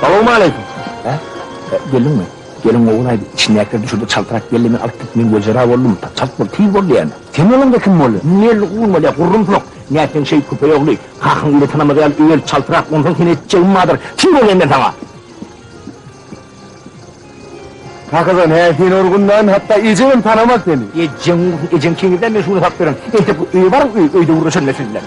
Salowmaleýkim. Hä? E, Geldiňmi? Gelin gowy aýdy. Içindäkiler düşürdi, çaltrak geldi, men alyp gitdim. Men wejera boldum. Ta- Çalt bol, tiz bol diýýän. Sen boluň-da kim boldy? Indi elli gurulmaly, gurrumsoň. Nätseň şeýt, köpeý ogly. Hakyň eli tanamaz ýaly öl, çaltrak, onsoň seni etjegim bardyr. Kim bolaýyn men saňa? Hakydan, hä, seni urgundan, hatda ejegem tanamaz seni. Ejeň ursun, ejeň keňirden men şuny sap beren. Entek bir öýe baryň, öý, öýde gürleşerin men siz bilen.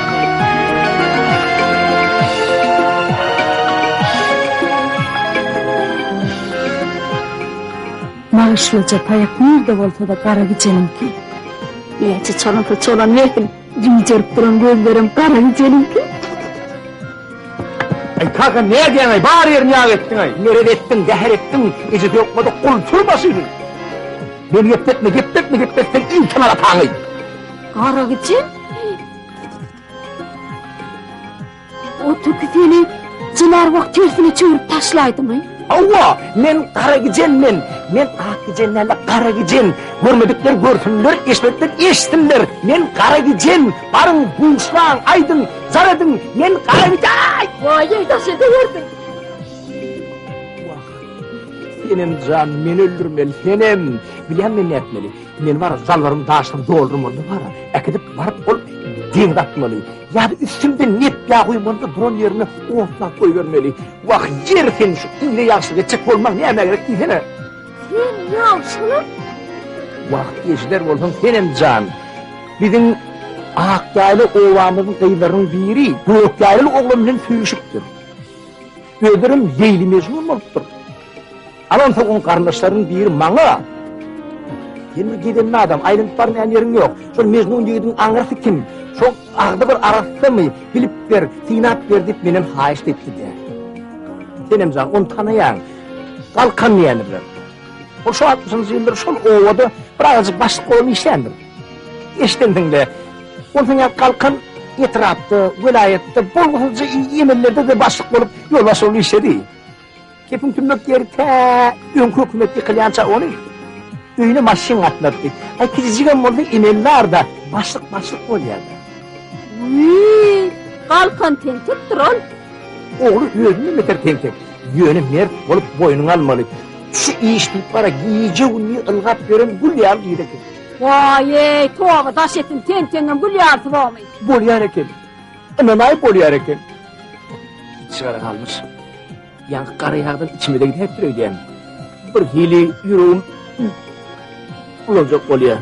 Bagşylyja taýak nirde bolsada gara gijeniňki. Näçe çalynsa çalan welin, gijerip duran gözlerim gara gijeniňki. Aý kaka nädýäňaý bar ýerini ýag etdiňaý. Meret etdiň, zäher etdiň, ejesi ýokmadyk gultur başyny. Meni gepletme, gepletme, gepletseň ilki malataňy. Garagyjy? O tüki seni jylar wak tersine çöwürip taşlaydı mı? Awa, men gara gicen men. Men ak gicen däl, gara gicen. Görmedikler görsünler, eşitmedikler eşitsinler. Men gara gicen. Baryň, buşlaň, aýdyň, zar ediň. Men gara gicen. Waý, daş ederdin. Senem jan, men öldürmeli, senem. Bilýän men nätmeli. Men bar zallarym daşdan doldurmaly bar. Äkidip baryp ol deň datmaly. Ýa-da üstünde net ýa guýmaly duran ýerine otlap goýbermeli. Wah, ýer sen şu ine ýagşy geçjek bolmaň nämä gerek diýsene. Sen ýagşymy? Wah, ejider bolsaň senem jan. Biziň Akýaýly obamyzyň gyzlarynyň biri Gökýaýly oglan bilen söýüşipdir. Özlerem Leýli-Mejnun bolupdyr. Alansoň oň garyndaşlarynyň biri maňa, Sen bir gedenli adam, aýlanyp barmaýan ýeriň ýok. Şol Mejnun ýigidiň aňyrsy kim? Şol agzy bir arasdamy? Bilip ber, synap ber diýip menem haýyşt etdi-de. Senem jan, ony tanaýaň. Galkan diýýändir bilen. Ol şu 60-njy ýyllar şol obada bir azajyk başlyk bolup işleýändir. Eşdendiňle, ol sen ýaly galkan etrapda, welaýatda bolgusyzja emellerde-de başlyk bolup, ýolbaşçy bolup işledi. Kepiň tümmek ýeri tä öňki hökümet ýykylýança ony öýüne maşyn gatnatdy. Aý kijijigem bolsa emeldarda başlyk başlyk bolýardy. Wiý, galkan tentekdir ol. Ogly özünden beter tentek. Ýöne mert bolup boýnuňa almaly. Şu iş diýip bara gije-gündiz ylgap ýören gül ýaly ýigit eken. Waý-eý, toba daş etsin, tenteňem gül ýarsy bormy? Bolýar eken. Ynam aýyp bolýar eken. Çygar galmyş. Ýaňky gara ýagdan içimize gidäpdir öýdýän. Bir hili ýüregim bulanjak bolýar.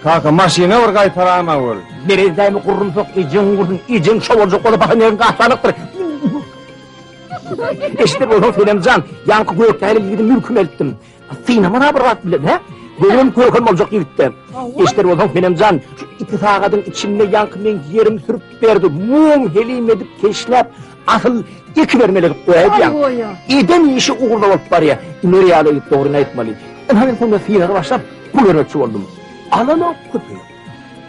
Kaka, maşyna bir gaýtarana bol. Merezdämi gurrumsak ejeň gursun, ejeň şo boljak bolup baha näme gaçanykdyr. Eşitip bolsaň, Senemjan, ýaňky Gökdäli ýigidi mülküme eltdim. Synama da bir zat bilen, hä? Gözüm körkem boljak ýigitde. Eşder bolsaň, menem jan, şu iki sagadyň içinde ýaňky men ýerim sürüp berdi. Muň helim edip keşläp, asyl iki bermeli edip goýaýýaň. Eden işi ugurda bolup barýa. Ümer ýaly ýigit dogryny aýtmaly. Ynha men sunda synaga başlap, pul bermekçi boldum. Alanok köpi.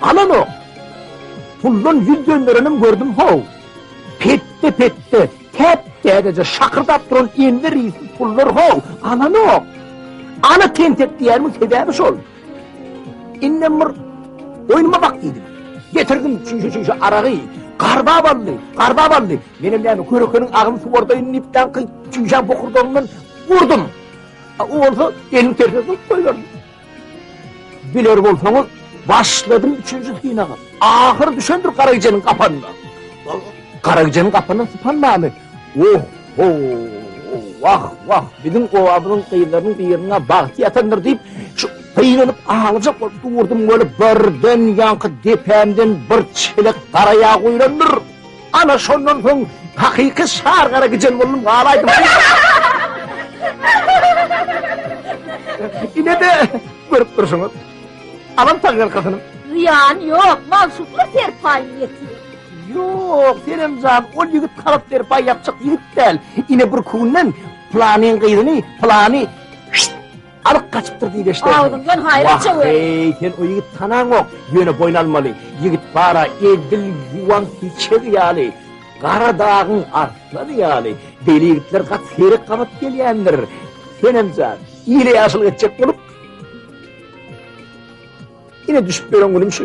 Alanok. Puldan ýüz dönderenim gördüm, how. Petde-petde. Hep dädeje şakyrdap duran Enwer ýiti pullar how, alanok. Ana tentek diýärimin sebäbi şol. Indem bir oýnuma bak diýdim. Getirdim çüýşe çüýşe aragy. Garba bally, garba bally. Menem näme körekeniň agyny suwardaýyn diýip daňky çüýşä bokurdagymdan urdum. A o bolsa elini terse tutup goýberdi. Biler bolsaňyz, başladym üçünji synagy. Ahyr düşendir Garagijeniň gapanyna. Garagijeniň gapanyny sypanmamy? Oh, ho, wah, wah, biziň obamyzyň gyzlarynyň birine bagty ýatandyr diýip, şu gynanyp aglajak bolup durdum, welin birden ýaňky depämden bir çelek gara ýag guýlandyr. Ana şondan soň hakyky şar gara gijen boldum galaýdym. Inede görüp durşuňyz. Alan tagalkasyny. Zyýan ýok, magşuklar serpaýyny ýetir. Ýok, senem jan, ol ýigit galat serpaý ýapjak ýigit däl. Ine bir künden planyň gyzyny, plany Alyp gaçypdyr diýip eşiderdim. Agzyňdan haýra çöwer. Wah-eý, sen o ýigit tanaňok. Ýöne boýun almaly. Ýigit bar-a, edil ýuwan hiçegi ýaly. Gara dagyň arslany ýaly. Beýle ýigitler gaty seýrek gabat gelýändir. Senem jan, ile ýaşulyk etjek bolup, ine düşüp ýören günüm şu.